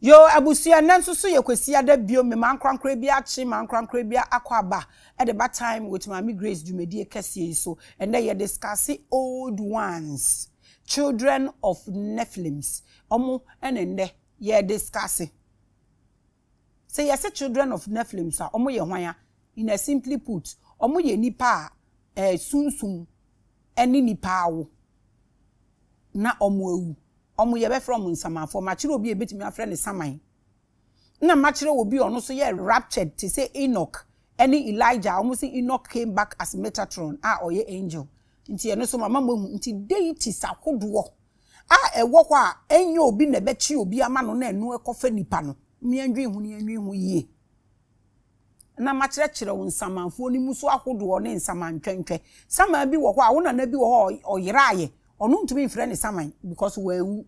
Yoo abusua nnɛ nso so yɛ kwasiada bio me m'ankorankorɛ bi akye m'ankorankorɛ bi akɔ aba ɛde ba time with maame Grace dwumadie kɛseɛ yi so ɛnnɛ yɛ discusse old ones children of Nephilims ɔmo ɛna ɛnnɛ yɛ discusse sɛ yɛ se children of Nephilims a ɔmo yɛ hwan a in a simply put ɔmo yɛ nipa a ɛɛ sunsum ɛne nipa awo. na wɔawu. Wɔn yɛbɛfrɛ wɔn nsamanfoɔ. Makyerɛ obi a yɛbɛtumi afrɛ no saman. Ɛna makyerɛ obi a ɔno nso yɛ raptured te sɛ Enoch ne Elijah a wɔse Enoch came back as Metatron a ɔyɛ angel. Nti ɛno nso mama moahu. Nti deities ahodoɔ a ɛwɔ hɔ a ɛnyɛ obi na ɛbɛkye obi ama no na ɛno ɛkɔfa nipa no, moandwen ho na yɛndwen ho yie. na makyerɛkyerɛ wo nsamanfuo no mu so ahodoɔ ne nsaman ntwɛntwɛ. Saman bi wɔ hɔ a, wo nana bi wɔ hɔ a ɔyeraeɛ, ɔno ntumi mfrɛ no saman because wanwu.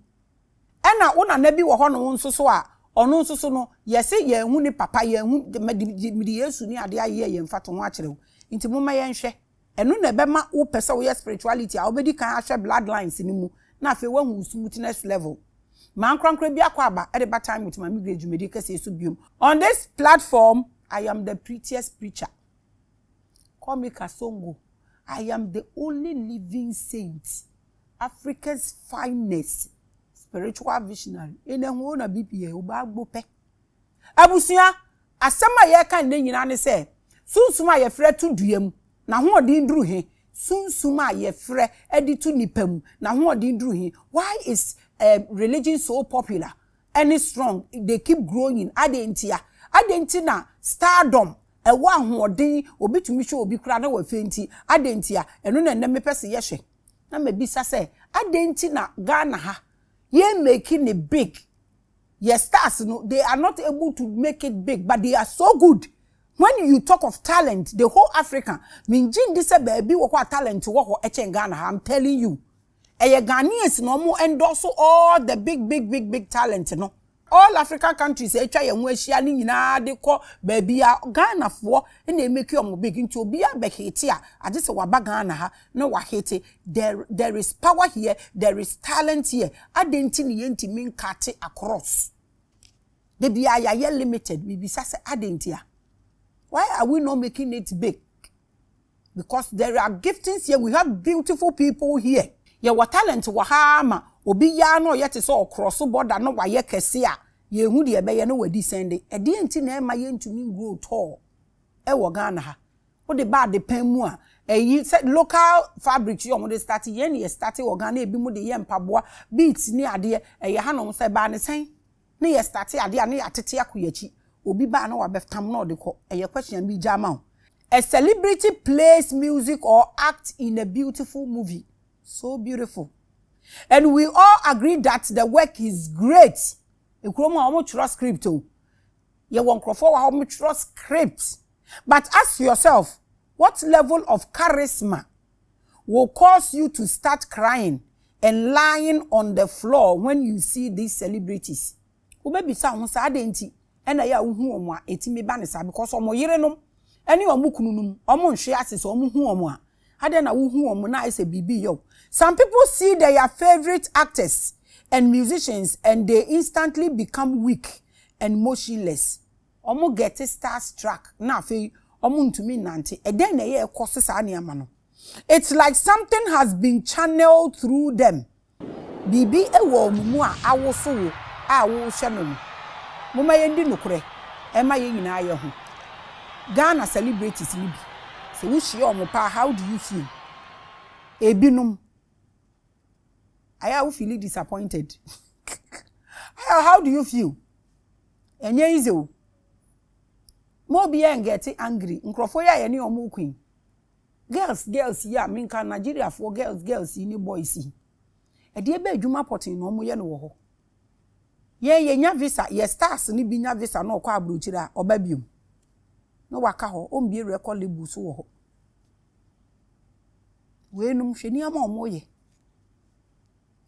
Ɛna wo nana bi wɔ hɔ no nso so a, ɔno nso so no, yɛse yɛnhu ne papa, yɛnhu, mede Yesu ne adeɛ ayeyɛ yɛ mfatoho akyerɛ wo. Nti momma yɛnhwɛ. Ɛno na ɛbɛma wo pɛ sɛ woyɛ spirituality a wobɛdi kan ahwɛ blood lines no mu na afei woahu wo smoothness level. Ma ankorankora bi akɔ aba de ba Time with Maame Grace dwumadie kɛseɛ yi so biom. On this platform I am the prettiest preacher, call me Kasongo, I am the only living saint, Africa's finest spiritual visionary, in a whole na bpa, obaagbo pɛ. Abusua, asɛm a yɛreka nnɛ nyinaa ne sɛ, Sunsum a yɛfrɛ to dua mu, n'ahoɔden duru he? Sunsum a yɛfrɛ de to nnipa mu, n'ahoɔden duru he? Why is eh, religion so popular ne strong? They keep growing. Adɛn ntia? Adɛn nti na stardom ɛwɔ ahoɔden, obi tumi hwɛ obi koraa na wafei nti? Adɛn ntia? Ɛno na nnɛ mepɛ se yɛhwɛ. Na mabisa sɛ, adɛn nti na Ghana ha, yɛmmeki ne big Yɛ stars no they are not able to make it big but they are so good when you talk of talent the whole Africa mengye ndi sɛ baabi wɔ hɔ a talent wɔ hɔ kyɛn Ghana ha I'm telling you ɛyɛ Ghanaians na ɔmo endorse all the big big big big talent no all African countries a atwa yɛn ho ahyia no nyinaa de kɔ baabiaa Ghanafoɔ na ɛmake ɔmo big nti obiaa bɛ hate a agye sɛ waba Ghana ha na wahate There there is power here, there is talent here. Adɛn nti na yɛntumi nkate across? Da biara yɛayɛ limited. Mebisa sɛ adɛn nti a? Why are we not making it big? Because there are giftings here, we have beautiful people here. Yɛwɔ talent wɔ ha ara ma obi yɛ ara na ɔyɛ te sɛ ɔkorɔso bɔda na wayɛ kɛse a, yɛnhu deɛ ɛbɛyɛ na wadescend. Ɛdeɛn nti na ɛmma yɛntumi ngrow tall wɔ Ghana ha? Wode ba adepɛn mu a, ɛyi sɛ local fabrics yɛ wɔde starte, yɛn ne yɛ starte wɔ Ghana ebi mo de yɛ mpaboa, beads ne adeɛ, ɛyɛ ha nom, sɛ ɛbaa ne sɛn ne yɛ starte adeɛ a ne yɛatete akɔ yɛn akyi, obi ba a ne wabɛtam na ɔde kɔ, ɛyɛ question a meregya ama wo. A celebrity plays music or act in a beautiful movie, so beautiful and we all agree that the work is great, ekurom a wɔtwerɛ script o, yɛwɔ nkorɔfoɔ wɔ ha wɔtwerɛ script. But ask yourself what level of charisma will cause you to start crying and lying on the floor when you see these celebrities? Wobɛbisa wo ho sɛ adɛn nti na ɛyɛ a wohu wɔn a ɛtumi ba no saa because wɔn yerenom ne wɔn kununom wɔnhwe ase sɛ wɔhu wɔn a adɛn na wohu wɔn na ayɛ sɛ biribi reyɛ wo? Some people see their favourite actors and musicians and they instantly become weak and motionless. Wɔn gɛte star struck na afei wɔn ntumi nnante. Ɛdɛn na ɛyɛ ɛkɔ so saa nneɛma no? It's like something has been channeled through them. Biribi wɔ wɔn mu a awoso wo a wohwɛ no no. Momma yɛndi nokorɛ ɛmma yɛn nyinaa yɛ ho. Ghana celebrities no bi, sɛ wohyia wɔn paa how do you feel? Ɛbinom. Ayɛ a wo feeli disappointed. Ayɛ how do you feel? Ɛnyɛ easy o. Mo obiara ngɛte angry. Nkurɔfoɔ yi a yɛne wɔn reko yi, girls girls yi a menka Nigeriafoɔ girls girls yi ne boys yi, ɛdeɛ bɛ adwuma pɔtee na wɔyɛ no wɔ hɔ? Yɛn yɛnya visa, yɛ stars no bi nya visa na ɔkɔ aburokyire a, ɔba biom. Na waka hɔ, ɔmbie record label so wɔ hɔ. Wei nom hwɛ nneɛma a wɔyɛ.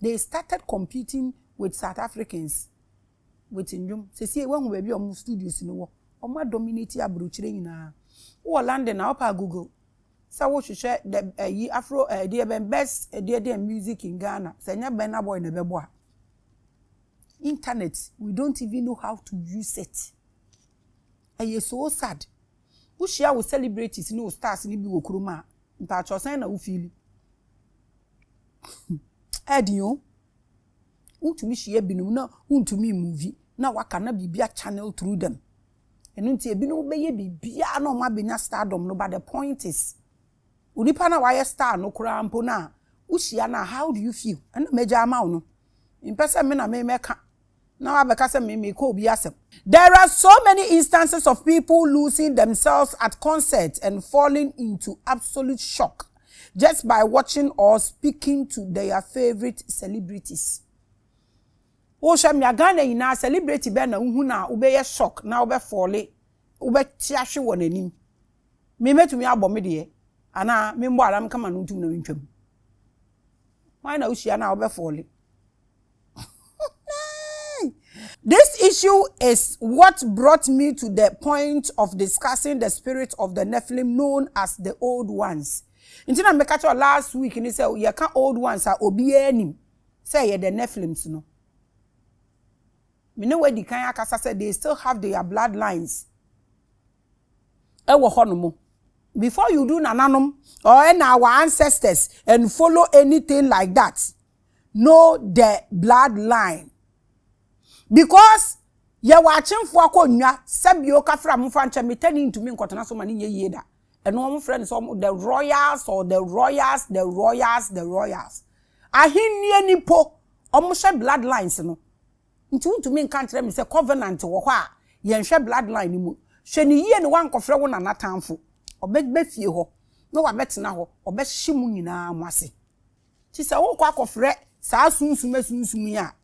They started competing with South Africans with nnwom. Sesie woahu baabi a wɔn studios no wɔ. Wɔn a dominate aburokyire nyinaa. Wowɔ London a wopɛ a Google sɛ wohwehwɛ the ɛyi eh, afro ɛdeɛ eh, bɛn best ɛdeɛ eh, deɛ music in Ghana. Sɛ nyɛ Burna Boy na ɛbɛbɔ a. Internet we don't even know how to use it. Ɛyɛ so sad. Wohyia wo celebrities ne wo stars no bi wɔ kurom a, mpakyɛw sɛn na wo fiili? Ɛɛden o. Wotumi hyia binom na wontumi mmovi na waka na biribi a channel through them. Ɛno nti ebinom bɛyɛ biribiara na wɔn abɛnya stardom no but the point is onipa no a wayɛ star no koraa mpo no a wohyia no a how do you feel? Ɛna magya ama wo no. Mempɛ sɛ me na memɛka Na wabɛka sɛ me mekɔ obi asɛm. There are so many instances of people losing themselves at concerts and falling into absolute shock just by watching or speaking to their favourite celebrities. Wohwɛ mmea Ghana nyinaa celebrity bɛn na wohu no a wobɛyɛ shock na wobɛ falle wobɛte ahwe wɔ n'anim. Me mɛtumi abɔ me deɛ anaa memmɔ anaa meka m'ano ntom na mentwam. Hwan na wohyia no a wobɛ falle? This issue is what brought me to the point of discussing the spirit of the Nephilim known as the old ones. Nti na meka kyerɛ last week ni sɛ yɛka old ones a obiara nim sɛ yɛ the Nephilims no. Me ne wadi kan akasa sɛ they still have their bloodlines ɛwɔ hɔ nom. Before you do nananom or ɛna our ancestors and follow anything like that. know the blood line because yɛwɔ akyemfoɔ akonnwa sɛbi o kafra mo fa nkyɛn metani ntumi nkɔtena so ma ne nyɛ yie da ɛno wɔn frɛ no sɛ wɔn the royals or the royals the royals the royals ahenni nipo wɔn hyɛ blood lines no nti ntumi nka nkyerɛ mi sɛ covenant wɔ hɔ a yɛn hwɛ blood line no mu hwɛ ne yie ne wankɔfrɛ wɔn nana tanfo ɔbɛ bɛ fie hɔ na wabɛtena hɔ ɔbɛhye mu nyinaa mo ase. Nti sɛ wokɔ akɔfrɛ saa sunsum asunsum yi a,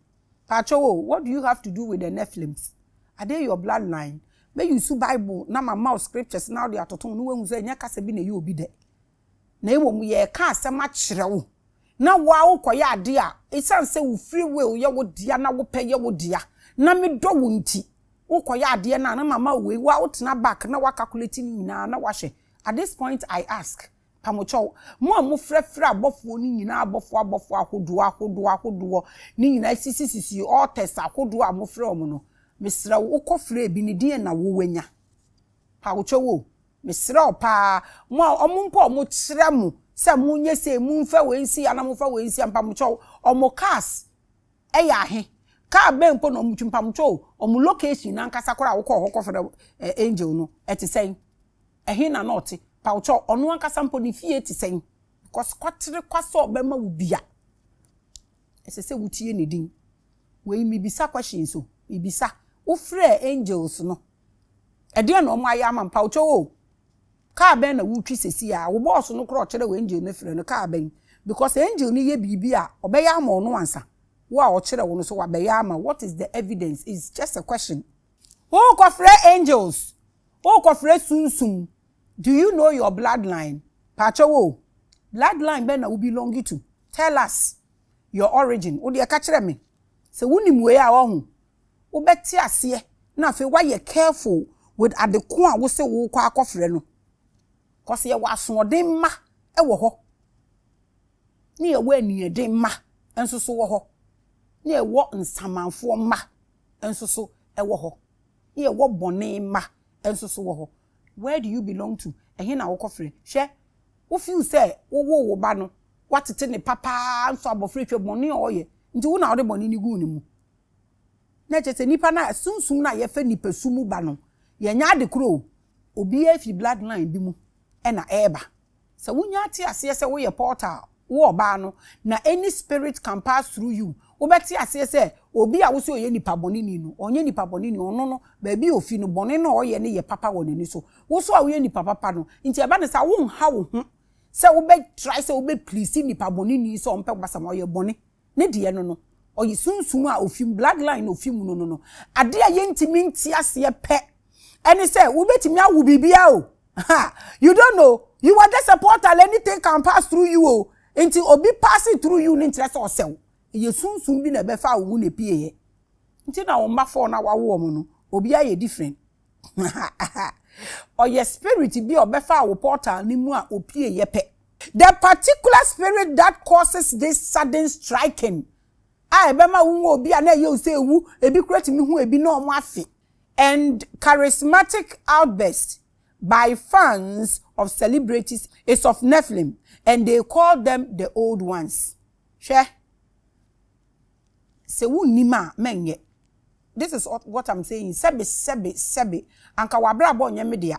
pakyɛw o, what do you have to do with the Nephilims? Are they your blood line? Me use Bible na ma ma wo scriptures na wode atoto ho na woahu sɛ ɛnyɛ kasa bi na ɛyɛ obi dɛ. Na mmom yɛreka asɛm akyerɛ wo na wo a wokɔyɛ ade a ɛsiane sɛ wo free will yɛ wo dea na wopɛ yɛ wo dea na medɔ wo nti wokɔyɛ adeɛ no a na mama wo wei wo a wotena back na woakalkulate ne nyinaa na woahwɛ at this point I ask Pamokyɛw, mo a mofrɛfrɛ abɔfoɔ no nyinaa abɔfoɔ abɔfoɔ ahodoɔ ahodoɔ ahodoɔ no nyinaa sisisisi altars ahodoɔ a mofrɛ wɔn no, mesrɛ wo, wokɔfrɛ ebi no, deɛn na wo wanya? Pamokyɛw o, mesrɛ wo pa ara, mo a wɔn mpo a wɔkyerɛ mo sɛ monyɛ sei, momfa wei nsi ha na momfa wei nsi ha, mpamokyɛw, wɔn cars yɛ ahe? Car bɛn mpo na wɔn twi? Mpamokyɛw o, wɔn location no ankasa koraa a wokɔɔ hɔ kɔfrɛ Angel no, ɛte sɛn? Ɛhe na na ɔte? Pawkyɛw, ɔno ankasa mpo ne fie te sɛn? Because kwaterekwa sɛ ɔbɛma wo bi a, ɛsɛ sɛ wutie ne din. Wei, mibisa questions o, mibisa. Wofrɛɛ angels no, ɛdeɛn na wɔayɛ ama no? Pawkyɛw o, kaa bɛn na wotwi seesei ara? Wo bɔɔso no koraa ɔkyerɛ wo angel no afiri no, kaa bɛn? Because angel no yɛ biribi a, ɔbɛyɛ ama ɔno ansa. Wo a ɔkyerɛ wo no nso, wabɛyɛ ama wo. What is the evidence? It's just a question. Worekɔfrɛ angels, Wo kɔ frɛ sunsum do you know your blood line paakyɛw o blood line bɛn na wo belong to tell us your origin wo deɛ ka kyerɛ me sɛ wo nim wei a wɔho wo bɛ te aseɛ na afei wa yɛ careful with ade ko a wo se wo kɔ akɔ frɛ no cause yɛ wɔ asoɔden mma ɛwɔ hɔ ne yɛ wɔ aniyɛden mma nso so wɔ hɔ ne yɛ wɔ nsamanfoɔ mma. nso so wɔ hɔ, ne yɛwɔ bɔne mma nso so wɔ hɔ. Where do you belong to? Ɛhe na wokɔfrɛ? Hwɛ, wo feel sɛ wowoo wo ba no, woatete no pa paa nso abɔfra yi hwɛ bɔne a ɔyɛ nti wo na wode bɔne no guu ne mu. Na ɛkyerɛ sɛ nipa no a sunsum no a yɛfɛ nipasu mu ba no, yɛnyɛ ade korɔ o, obiara firi blood line bi mu na ɛreba. Sɛ wunya te aseɛ sɛ woyɛ portal, wo ɔbaa no, na any spirit can pass through you, wobɛte aseɛ sɛ obi a wose ɔyɛ nipa bɔneni no, ɔnyɛ nipa bɔneni, ɔno no, baabi a ofi no, bɔne no a ɔyɛ no yɛ papa wɔ n'ani so. Wo nso a woyɛ nipa papa no, nti ɛba no saa a, wonha wo ho sɛ wobɛ try sɛ wobɛ please nipa bɔneni sɛ ɔmpɛ w'asɛm, ɔyɛ bɔne. ne deɛ no no, ɔyɛ sunsum a ofi mu, blood line na ofi mu no no no. Adeɛ a yɛntumi nte aseɛ pɛ ɛne sɛ wobɛtumi awo biribiara o. Ha, you don't know, you are just a portal, anything can pass through you o. Nti obi paase through you no nkyerɛ sɛ ɔsɛ wo. Ɛyɛ sunsum bi na ɛbɛfaa wo mu na ɛpieeɛ. Nti na wo mma four no a woawo wɔn no, obiara yɛ different. Ɔyɛ spirit bi a ɔbɛfaa wo portal no mu a ɔpueeɛ pɛ. The particular spirit that causes this sudden striking a ɛbɛma wohu obi a na ɛyɛ wo sɛ ɛwu, ebi koraa tumi hu ebi na wɔn afe, and charismatic outburst by fans of celebrities is of Nephilim and they call them the old ones. Hwɛ! Sɛ wonnim a, mɛnyɛ. this is what am saying sɛbe sɛbe sɛbe anka w'abrabɔ nyɛ me dea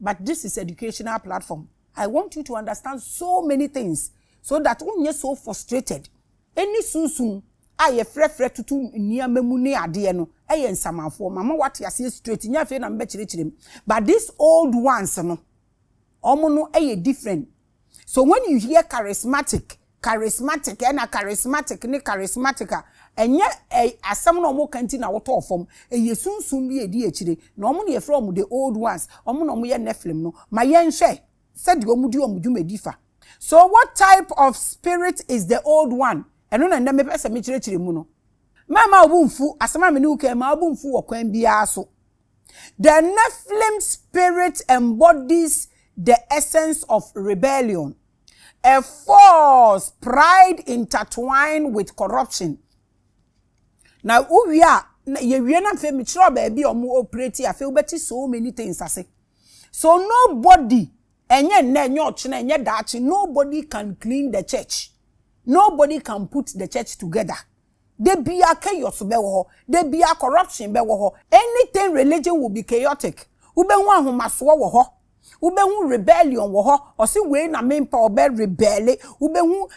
but this is educational platform I want you to understand so many things so that wo nyɛ so frustrated ɛne sunsum a yɛ frɛ frɛ toto nneɛma mu ne adeɛ no ɛyɛ nsamanfoɔ mama wate aseɛ straight nyɛ afei na mebɛkyerɛkyerɛ mu but this old ones no wɔn no ɛyɛ different. So when you hear charismatic, charismatic, ɛna charismatic ne charismatic a, ɛnyɛ ɛ asɛm na wɔn ka nti na wotɔɔ fam. Ɛyɛ sunsum bi a ɛdi akyire. Na wɔn na yɛfrɛ wɔn the old ones, wɔn na wɔyɛ Nephilim no. Ma yɛnhwɛ sɛdeɛ wɔn di wɔn dwumadi fa. So what type of spirit is the old one? Ɛno na nnɛ mepɛ sɛ mekyerɛkyerɛ mu no. Mɛmma wo bo mfu, asɛm a me ne wo kan yi, mma wo bo mfu wɔ kwan biara so. The Nephilim spirit embodies the essence of rebellion, a false pride intertwined with corruption. Na wowie a, na yɛwie na afei mekyerɛw baabi a wɔn operate afei wobɛte so many things ase. So nobody, ɛnyɛ nnɛ, ɛnyɛ ɔkyena, ɛnyɛ daakye, nobody can clean the church. Nobody can put the church together. Da biara chaos bɛwɔ hɔ, da biara corruption bɛwɔ hɔ, anything religion will be chaotic, wobɛhu ahomasoɔ wɔ hɔ, wobɛhu rebellion wɔ hɔ, ɔse wei na mempɛ ɔbɛ rebɛle, wobɛhu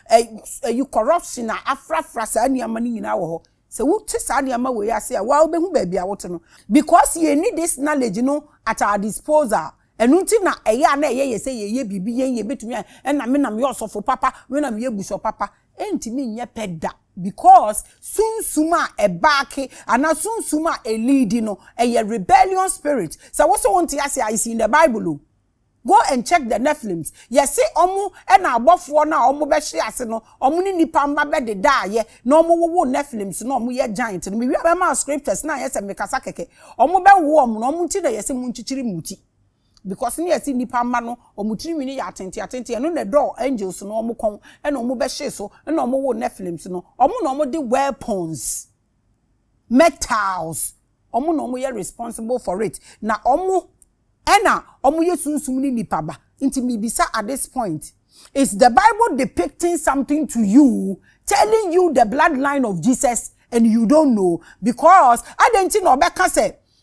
ɛyi corruption a afrafra saa nneɛma no nyinaa wɔ hɔ. Sɛ wote saa nneɛma wei ase a, waa wobɛhu baabi a wote no. Because yɛnni this knowledge no at our disposal, ɛno nti na ɛyɛ a na ɛyɛ yɛ sɛ yɛyɛ biribi yɛn yɛbɛtumi ayɛ, ɛna me na meyɛ ɔsɔfo papa, me na meyɛ bishop papa, Ɛntumi nyɛ pɛ da because sunsum a ɛbaake anaa sunsum a ɛleadi no ɛyɛ rebellion spirit. Sɛ wo se wo nte aseɛ a it's in the bible o. Go and check the Nephilims. Yɛse ɔmo ɛna abɔfoɔ no a ɔmo bɛhye ase no ɔmo ne nipa mma bɛdedaayɛ na ɔmo wowoo Nephilims na ɔmo yɛ giant no. Mewie a mɛma wo scriptures na anyɛ sɛ mekasa kɛkɛ. Ɔmo bɛwoo ɔmo na ɔmo nti na yɛse monkyikyiri mooti. Because ne yɛse nipa mma no wɔn tiri nwini yɛ atenten atenten ɛno na ɛdɔɔ angels no wɔn kɔn ɛna wɔn bɛhyee so ɛna wɔn woo nephilims no wɔn na wɔn de weapons metals wɔn na wɔn yɛ responsible for it na wɔn ɛna wɔn yɛ sunsum ne nipa ba nti mibisa at this point is the bible depicting something to you telling you the bloodline of jesus and you don't know because adan ti na ɔbɛka sɛ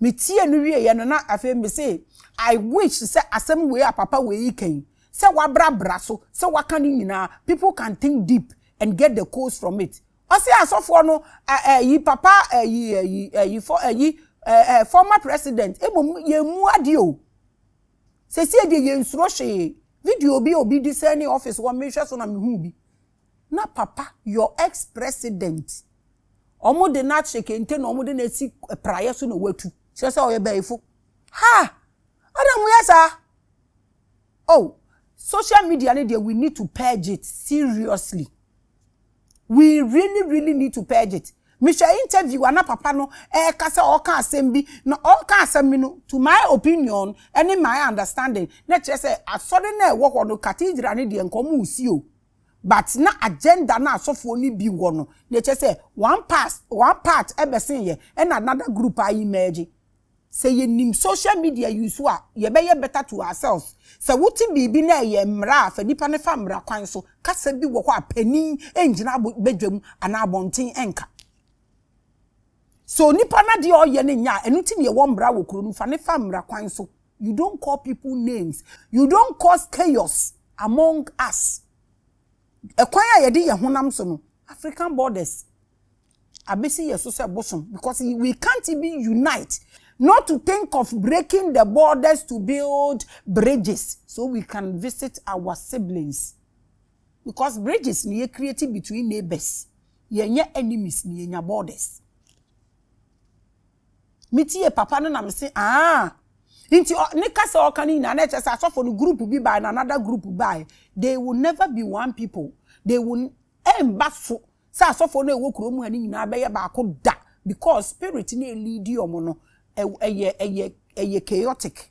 Me tiee no wieɛ no na afei me se I wish sɛ asɛm wei a papa wei reka yi sɛ wabra bra so sɛ waka ne nyinaa people can think deep and get the codes from it Ɔse asɔfoɔ no eh eh yi papa eh yi eh yi eh yi fɔ eh yi eh eh former president mmom yɛn mu adeɛ o Sesie deɛ yɛn nsuro hwee video bi a obi disɛne office hɔ mehwɛ so na mehuu bi. na papa your ex president ɔmo de no ahyɛ kente na ɔmo de no asi praeɛ so na watu kyerɛ sɛ ɔyɛ bɛyifo ha ada mo yɛ saa oh social media ne deɛ we need to purge it seriously we really really need to purge it mehwɛ interview ana papa no ɛka sɛ ɔka asɛm bi na ɔka asɛm bi no to my opinion ɛne my understanding na kyerɛ sɛ asɔre na ɛwɔ hɔ no cathedral ne deɛ nkɔm si o but na agenda no a asɔfoɔ no bi wɔ no na ɛkyerɛ sɛ one part one part ɛbɛsen yɛ ɛna another group a emerge sɛ yɛnim social media use a yɛbɛyɛ better to ourselves sɛ wote biribi na ɛyɛ mmara a fa nipa no fa mmara kwan so kasa bi wɔ hɔ a panin ngyina badwam anaa abɔnten nka So nipa no adeɛ a ɔyɛ no nyɛ a ɛno nti na yɛwɔ mmara wɔ kuro no fa ne fa mmara kwan so you don't call people names you don't cause chaos among us ɛkwan a yɛde yɛn honam so no African borders abɛsi yɛ so sɛ bosom because we can't even unite not to think of breaking the borders to build bridges so we can visit our siblings. Because bridges na yɛ create between neighbours, yɛ nyɛ enemies na yɛ nya borders. Me tie papa no na me se aah. Nti ne kasa a ɔka no nyinaa na ɛkyerɛ sɛ asɔfo no group bi bae na another group bae. They will never be one people. They will ɛmba so sɛ asɔfo no a ɛwɔ kurom ha no nyinaa bɛyɛ baako da because spirit no a ɛleadi wɔn no ɛyɛ ɛyɛ ɛyɛ chaotic.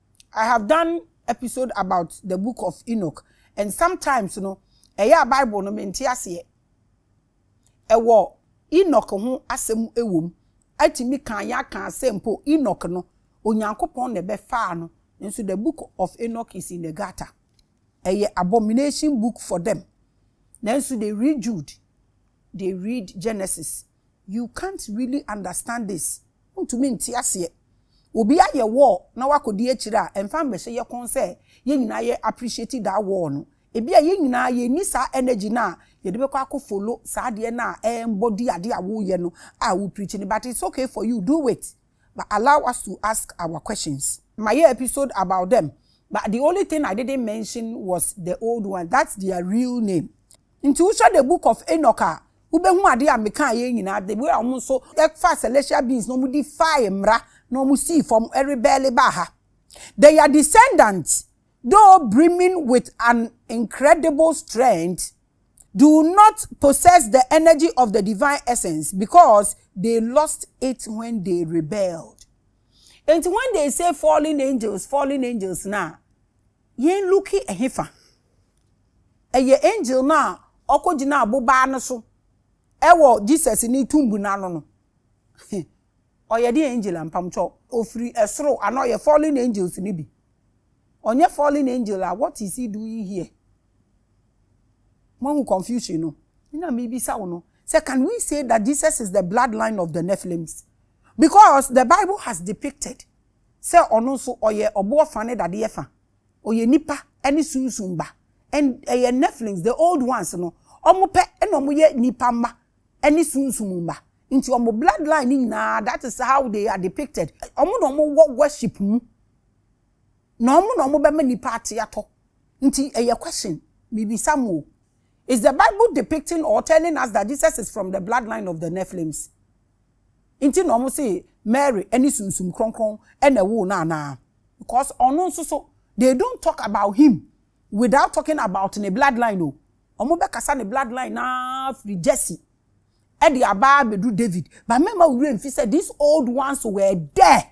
I have done episode about the book of Enoch and sometimes no ɛyɛ a bible no mente aseɛ. Ɛwɔ Enoch ho asɛm ɛwɔ mu. Atumi kaa yɛn akaa sɛ mpo Enoch no Onyankopɔn na ɛbɛfaa no nso the book of Enoch is in the gutter. Ɛyɛ abomination book for them. Nanso they read Jude, they read Genesis You can't really understand this, wontumi nte aseɛ. Obi ayɛ war na wakɔdi akyire a, ɛmfa mmɛhyɛ yɛ kɔn sɛ yɛn nyinaa yɛ appreciate that war no. Ebia yɛn nyinaa yɛnni saa energy no a yɛde bɛkɔ akɔ follow saa adeɛ no a ɛremmɔ di adeɛ a woreyɛ no a wo preach no, but it's okay for you, do it, but allow us to ask our questions. Mayɛ episode about them, but the only thing I didn't mention was the old one, that's their real name. Nti wohwɛ the book of Enoch a wobɛhu adeɛ a mekaa yɛ nyinaa the way a wɔn nso faa celestial beings na wɔn de fae mmra na wɔn sii fam rebɛɛle baa ha they are descendant though brimming with an incredible strength do not possess the energy of the divine essence because they lost it when they rebelled nti when they say fallen angels fallen angels na Yɛn Luke ɛhefa? Ɛyɛ angel no a ɔkɔgyinaa bobaa no so wɔ Jesus ne tumb no ano no. Ɔyɛ deɛn angel a? Mpamokyɛ ɔfiri soro anaa ɔyɛ fallen angels no bi? Ɔnyɛ fallen angel a what is he doing here? Moahu confusion no? Me na mebisa wo no sɛ can we say that Jesus is the blood line of the Nephilims? Because the bible has depicted. sɛ ɔno nso ɔyɛ ɔboɔ fa ne dadeɛ fa, ɔyɛ nipa ne sunsum ba and ɛyɛ Nephilims, the old ones no, wɔn pɛ na wɔyɛ nipa mma ne sunsum mma nti wɔn blood line no nyinaa that is how they are depicted, wɔn na wɔn wɔ worship mu na wɔn na wɔn bɛma nipa ate atɔ nti ɛyɛ question me bisa mo o, is the bible depicting or telling us that Jesus is from the blood line of the Nephilims? nti na wɔse Mary ne sunsum kronkron na ɛwoo no anaa? Because ɔno nso so they don't talk about him without talking about ne blood line o. Wɔn bɛkasa ne blood line no ara firi Jesse de aba ara bɛduru David. But mɛmma wo werɛ mfi sɛ these old ones were there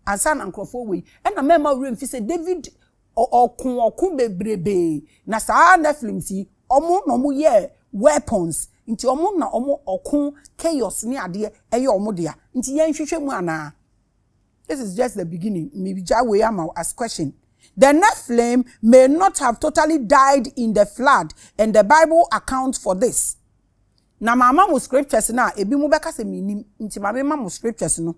ansa na nkorɔfoɔ wei. Ɛna mɛmma wo werɛ mfi sɛ David ɔko ɔko bebrebee na saa Nephilims yi wɔn na wɔn yɛɛ weapons nti wɔn na wɔn ɔko chaos ne adeɛ ɛyɛ wɔn dea nti yɛn hwehwɛ mu anaa this is just the beginning me gya wei ama wo as question the Nephilim may not have totally died in the flood and the bible account for this na ma ama mo scriptures na ebi mo bɛka sɛ me nim nti ma me ma mo scriptures no.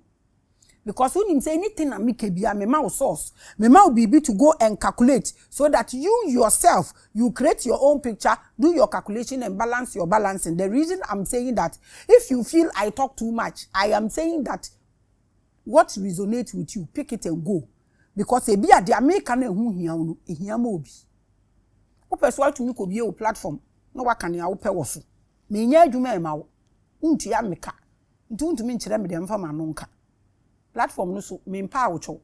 because wonim sɛ anything a meka biara mema wo source, mema wo biribi to go and calculate so that you yourself you create your own picture, do your calculation and balance your balancing. The reason I'm saying that if you feel I talk too much, I am saying that what resonate with you pick it and go because ebi a deɛ meka no ɛho hia wo no ɛhia ma obi. Wopɛ so atumi kɔ bie wo platform na waka nea wopɛ wɔ so. Menyɛ adwuma ɛma wo, wontua meka. Nti wontumi nkyerɛ me deɛ memfa m'ano nka. Platform no so mempɛ a wotwɛw.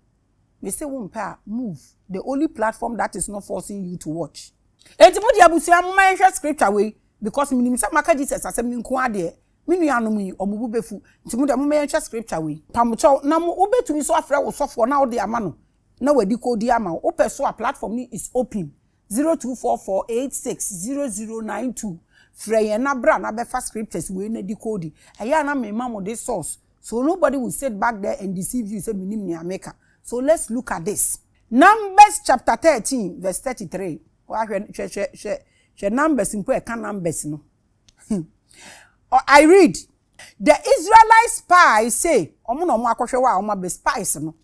Mese wompɛ a move. The only platform that is not forcing you to watch. Enti mo deɛ abusua momma yɛnhwɛ scripture wei because menim sɛ maka Jesus asɛm no nko ara deɛ me nuanom yi wɔn bo bɛfu nti mo deɛ momma yɛnhwɛ scripture wei. Pamokyɛw na mo wobɛtumi nso afrɛ wo sɔfoɔ na wode ama no na wadi kɔ di ama wo. Wopɛ so a platform no is open zero two four four eight six zero zero nine two frɛ yɛn na bra na bɛfa scriptures wei na decode ɛyɛ a na mema mo de source so nobody will sit back there and deceive you sɛ menim nea meka so let's look at this numbers chapter thirteen verse thirty three wa hwɛ hwɛ hwɛ hwɛ hwɛ numbers mpo ɛka numbers no I read the Israelite spies say wɔn na wɔn akɔhwɛ hɔ a wɔn abɛ spies no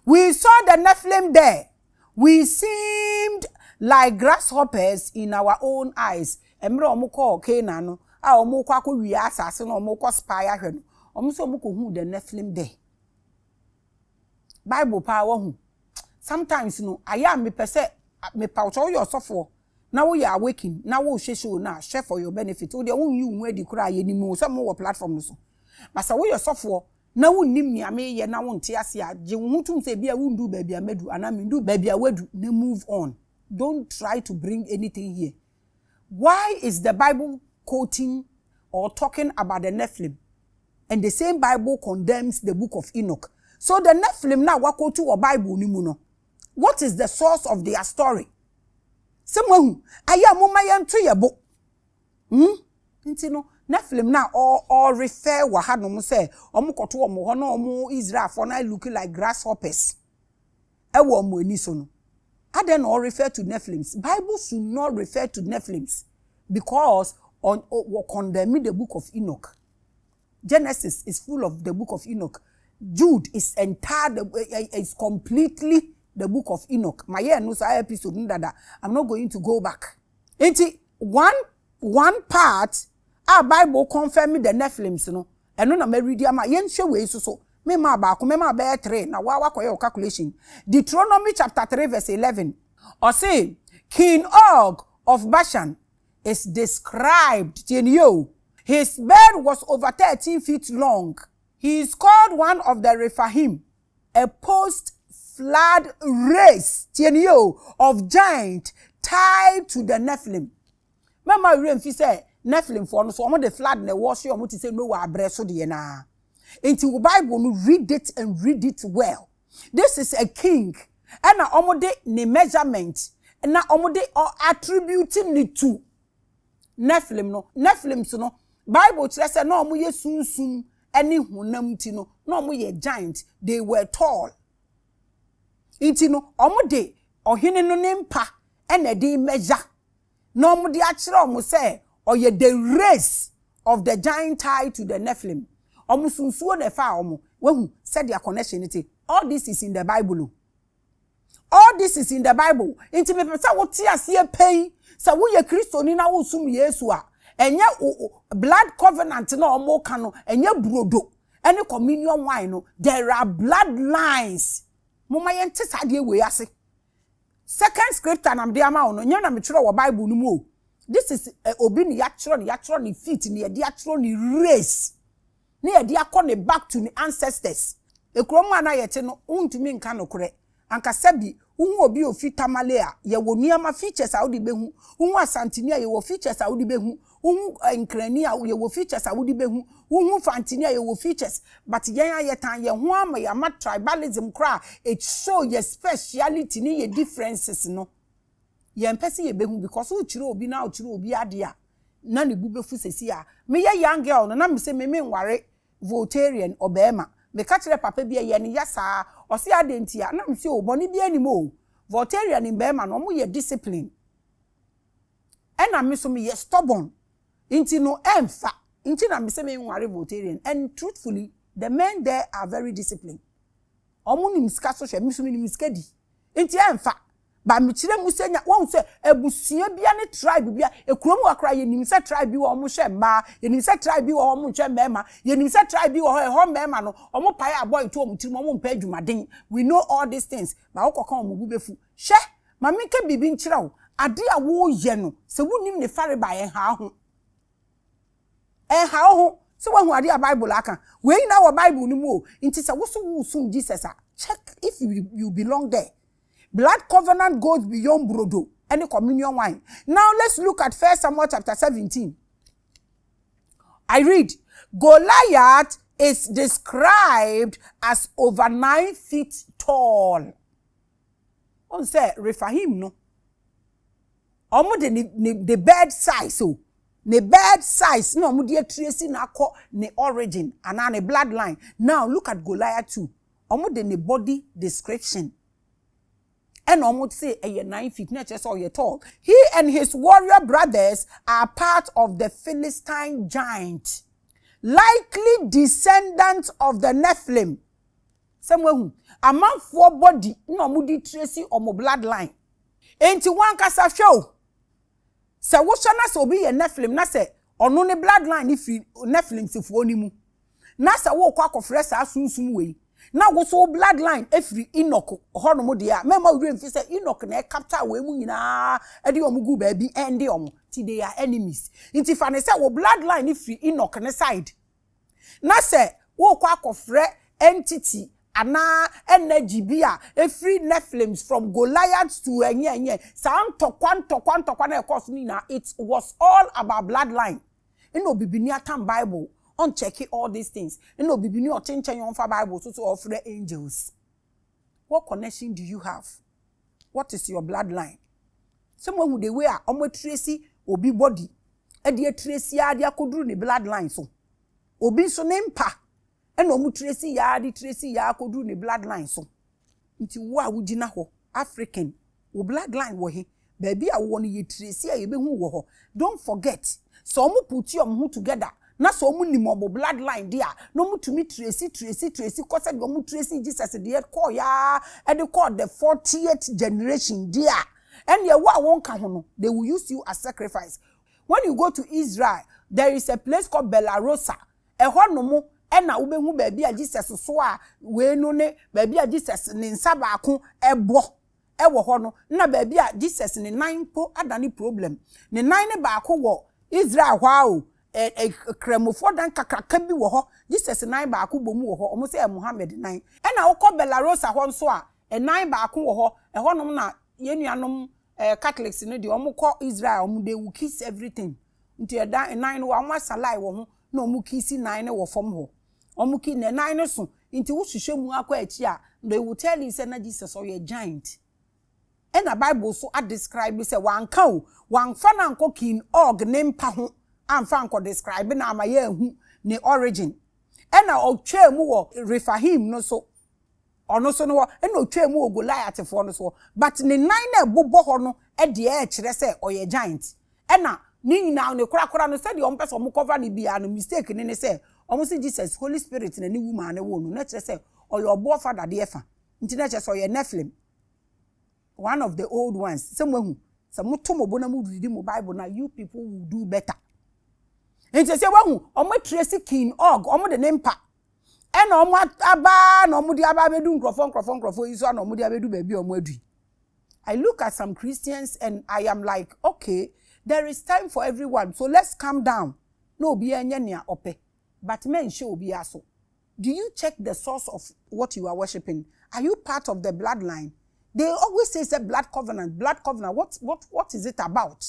We saw the Nephilim there, we seemed like grasshoppers in our own eyes. Mmerɛ wɔn kɔɔ Canaan no, a wɔn rekɔ akɔ wia asase no, wɔn rekɔ spy ahwɛ no, wɔn nso wɔn kɔ hu the Nephilim there. Bible paa wɔhu. Sometimes no, ayɛ a mepɛ sɛ mepa wo sɛ woyɛ ɔsɔfoɔ na woyɛ awakening na wohwɛ show no a hwɛ for your benefit. Wo deɛ wonyi wo ho adi koraa yɛnim wo sɛ mowɔ platform no so. Ba sɛ woyɛ ɔsɔfoɔ na wunnim nea mereyɛ na wonte ase a, gye wo ho tom sɛ ebia wunduu baabi a madu anaa menduu baabi a woadu, na move on. Don't try to bring anything here. Why is the Bible quoting or talking about the Nephilim and the same Bible condemns the book of Enoch? So the Nephilim no a wɔakɔtu wɔ Bible no mu no, what is the source of their story? Sɛ moahu, ayɛ a momma yɛnto yɛn bo Hu? Nti no, Nephilim no a ɔɔ refer wɔ ha nom sɛ ɔmo kɔto ɔmo hɔ na ɔmo Israelfoɔ no look like grasshoppers ɛwɔ ɔmo ani so no, adɛn na ɔɔ refer to Nephilims? Bible should not refer to Nephilims because ɔ, ɔ, wɔ condemn the book of Enoch. Genesis is full of the book of Enoch, Jude is entire the is completely the book of Enoch. Ma yɛ ɛno saa episode no dada. I'm not going to go back. Nti one one part a Bible confirm the Nephilims no ɛno na ma read ama yɛnhwɛ wei nso so. Me maa baako me maa bɛyɛ three na wa wakɔyɛ o calculation. Deuteronomy chapter three verse eleven. Ɔse King Og of Bashan is described, tie no yie o, His beard was over thirteen feet long, he is called one of the Rephaim, a post flood race, tie no yie o, of giant tied to the Nephilim. Mɛma werɛ mfi sɛ Nephlimfoɔ no so wɔn de flood na ɛwɔ so yɛ wɔn te sɛ Noah abrɛ so deɛ no ara. Nti wo Bible no read it and read it well. this is a king ɛna ɔmo de ne measurement na ɔmo de attribute ne to Nephilim no Nephilims no Bible kyerɛ sɛ na ɔmo yɛ sunsum ɛne honam ti no na ɔmo yɛ giant they were tall nti no ɔmo de ɔhene no ne mpa ɛna ɛde measure na wɔde akyerɛ wɔn sɛ ɔyɛ the race of the Gentile to the Nephilim. Wɔn so nsuo na ɛfaa wɔn. Wahu sɛdeɛ connection no te. All this is in the Bible o. All this is in the Bible. Nti mepɛ sɛ wote aseɛ pɛn sɛ woyɛ Kristoni na wosom Yesu a, ɛnyɛ blood covenant na wɔn ka no, ɛnyɛ burodo ɛne communion wine no. There are blood lines. Moma yɛnte saa adeɛ wei ase. Second scripture na mede ama wo no, nyɛ na metwerɛ wɔ Bible no mu o. This is eh, obi ne yɛatwerɛ ne yɛatwerɛ ne feet ne yɛde atwerɛ ne race ne yɛde akɔ ne back to ne ancestors. Ekuro mu a na yɛte no, wontumi nka nokorɛ. Ankasa bi, wohu obi a ofi Tamale a, yɛwɔ nneɛma, features a wode bɛhu. Wohu Asanteni a, yɛwɔ features a wode bɛhu. wo hu eh, nkrani a yɛwɔ features a wode bɛhu, wo hu fantini a yɛwɔ features, but yɛn a yɛtan yɛn ho ama yɛn ama tribalism koraa, it show yɛ speciality ne yɛ differences no, yɛn pɛ sɛ yɛbɛhu because wokyerɛ obi na wokyerɛ obi adeɛ a, na ne bu bɛfu sɛsi a, meyɛ young girl no na mesɛ me menware Voltarian ɔbɛɛma, meka kyerɛ papa bi a yɛn ya saa, ɔse adɛn ntia, na mesɛ o bɔne biara nim o, Voltarian mbɛɛma no wɔyɛ discipline, ɛna me so meyɛ stubborn nti no ɛnfa nti na mese menware Voltarian and truthfully the men there are very disciplined ɔmo nim sika so hwɛ me so menim sika di nti ɛnfa ba mekyerɛ mu sɛ nya wɔn sɛ abusua bia ne tribe bia ekurom hɔ koraa yɛnim sɛ tribe bi wɔ hɔ ɔmo hwɛ mmaa yɛnim sɛ tribe bi wɔ hɔ ɔmo nhwɛ mmarima yɛnim sɛ tribe bi wɔ hɔ ɛhɔ mmarima no ɔmo pae abɔ etu ɔmo tirim ɔmo mpɛ adwumaden we know all these things ba wokɔka ɔmo bu befu Hwɛ, ma menka biribi nkyerɛ wo, ade a woreyɛ no, sɛ wunnim ne farebae a, ɛnhaw ho. Ɛnhaw ho sɛ woahu ade a Bible aka. Wei nyinaa wɔ Bible no mu o. Enti sɛ wo nso woresom Jesus a, check if you belong there. Blood covenant goes beyond brodo ne communion wine. Now let's look at First Samuel chapter 17. I read, Goliath is described as over nine feet tall. Wohu sɛ Refaim no, wɔde ne ne ne bed size o, ne bed size na wɔde atiresi no akɔ ne origin anaa ne bloodline. Now look at Goliath too, wɔde ne body description ɛna wɔn se ɛyɛ nine feet na ɛkyerɛ sɛ ɔyɛ tall. He and his warrior brothers are part of the Philistine giant, likely descendants of the Nephilim. Sɛ moahu, amanfoɔ body na ɔmo de trace ɔmo blood line. Enti wankasa hwɛ o, sɛ wohwɛ na sɛ obi yɛ Nephilim na sɛ ɔno ne blood line no firi Nephilimsfoɔ no mu, na sɛ worekɔ akɔfrɛ saa sunsum wei, na wo nso wo blood line firi Enoch hɔnom deɛ a, mɛmma wo werɛ mfi sɛ Enoch na ɛcapture wei mu nyinaa de ɔmo gu baabi ɛnde ɔmo. Nti they are enemies. Nti fa no sɛ wo blood line no firi Enoch ne side. na sɛ worekɔ akɔfrɛ entity anaa energy bi a ɛfiri Nephilims from Goliaths to ɛnyɛ ɛnyɛ saa ntɔkwa ntɔkwa ntɔkwa no a ɛkɔɔ so no nyinaa it was all about blood line ɛna obibini atam Bible ɔnkyɛke all these things ɛna obibini ɔte nkyɛn ɔmfa Bible so so ɔrefrɛ angels what connection do you have? what is your blood line sɛ moahu the way a ɔmo atiresi obi body ɛde atiresi ara de akɔduru ne blood line so obi nso ne mpa ɛna ɔmo tiresi yaa de tiresi yaa akɔduru ne blood line so nti wo a wogyina hɔ african wo blood line wɔ he Baabi a wowɔ no yɛ tiresi a yɛbɛhu wo wɔ hɔ. Don't forget, sɛ ɔmo put ɔmo ho together na sɛ ɔmo nim ɔmo blood line deɛ a, na ɔmo tumi tiresi tiresi tiresi kɔ sɛdeɛ ɔmo tiresii Jesus deɛ kɔɔeɛ ara de kɔɔ the fortieth generation deɛ a, ɛnneɛ wo a wonka ho no, they will use you as sacrifice. When you go to Israel, there is a place called Bellarosa, ɛhɔ nom na wobɛhu baabi a Jesus soaa wei no ne baabi a Jesus ne nsa baako bɔ wɔ hɔ no na baabi a Jesus ne nan mpo adane problem. Ne nan no baako wɔ Israel hɔ ara o, ɛ ɛ Kramofoɔ dan kakraka bi wɔ hɔ, Jesus nan baako bɔ mu wɔ hɔ, wɔn sɛ ɛyɛ Mohammed nan. Ɛna wokɔ Bellarosa hɔ nso a, ɛnan baako wɔ hɔ, ɛhɔnom na yɛn nuanom ɛ Catholics no deɛ wɔkɔ Israel wɔn they will kiss everything, nti ɛdan nan no wɔn asalae wɔ ho na wɔn kiss nan no wɔ fam hɔ. Ɔmo ki na nan no so nti wo hwehwɛ mu akɔ akyi a they will tell you sɛ na Jesus ɔyɛ giant ɛna bible so a describe sɛ wanka o wanfa no ankɔ king Og ne mpa ho anfa ankɔ describe no ama yɛ ahu ne origin ɛna ɔtwaa mu wɔ Rephaim no so Ɔno so no hɔ na ɔtwaa mu wɔ Goliathfoɔ no soɔ but ne nan no a ɛbobɔ hɔ no deɛ ɛkyerɛ sɛ ɔyɛ giant ɛna ne nyinaa no korakora no sɛdeɛ wɔn pɛ sɛ wɔn cover no biara no mistake no ne sɛ wɔn se Jesus Holy Spirit na ne wu maa no woo no na kyerɛ sɛ ɔyɛ ɔboɔ fa dadeɛ fa nti na kyerɛ sɛ ɔyɛ Nephilim one of the old ones sɛ mo ahu sɛ mo to mo bo na mo read mo Bible na you people will do better nti sɛ wɔahu wɔn atresi King Og wɔn de ne mpa ɛna ɔmo aba na ɔmo de aba abɛdu nkorɔfoɔ nkorɔfoɔ nkorɔfoɔ yi so ana ɔmo de abɛdu baabi a ɔmo adu yi I look at some Christians and I am like okay there is time for everyone so let's calm down na obiara nyɛ nea ɔpɛ but mɛnhyɛ obiara so do you check the source of what you are worshiping are you part of the bloodline they always say sɛ blood covenant blood covenant what what what is it about.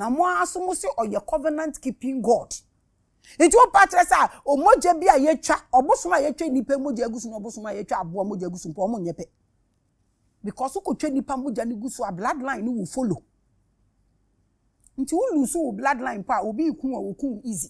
Na mo ara nso mo se ɔyɛ covenant keeping God. Nti wo pa kyerɛ sɛ a omogya bi a yɛtwa, ɔbosom a yɛtwa nnipa mogya agu so na ɔbosom a yɛtwa aboa mogya agu so mpo ɔmo nyɛ pɛ. Because wokɔtwa nnipa mogya no gu so a bloodline no wo follow. Nti wo lose wo bloodline mpo a obi reku a wɔku wo easy.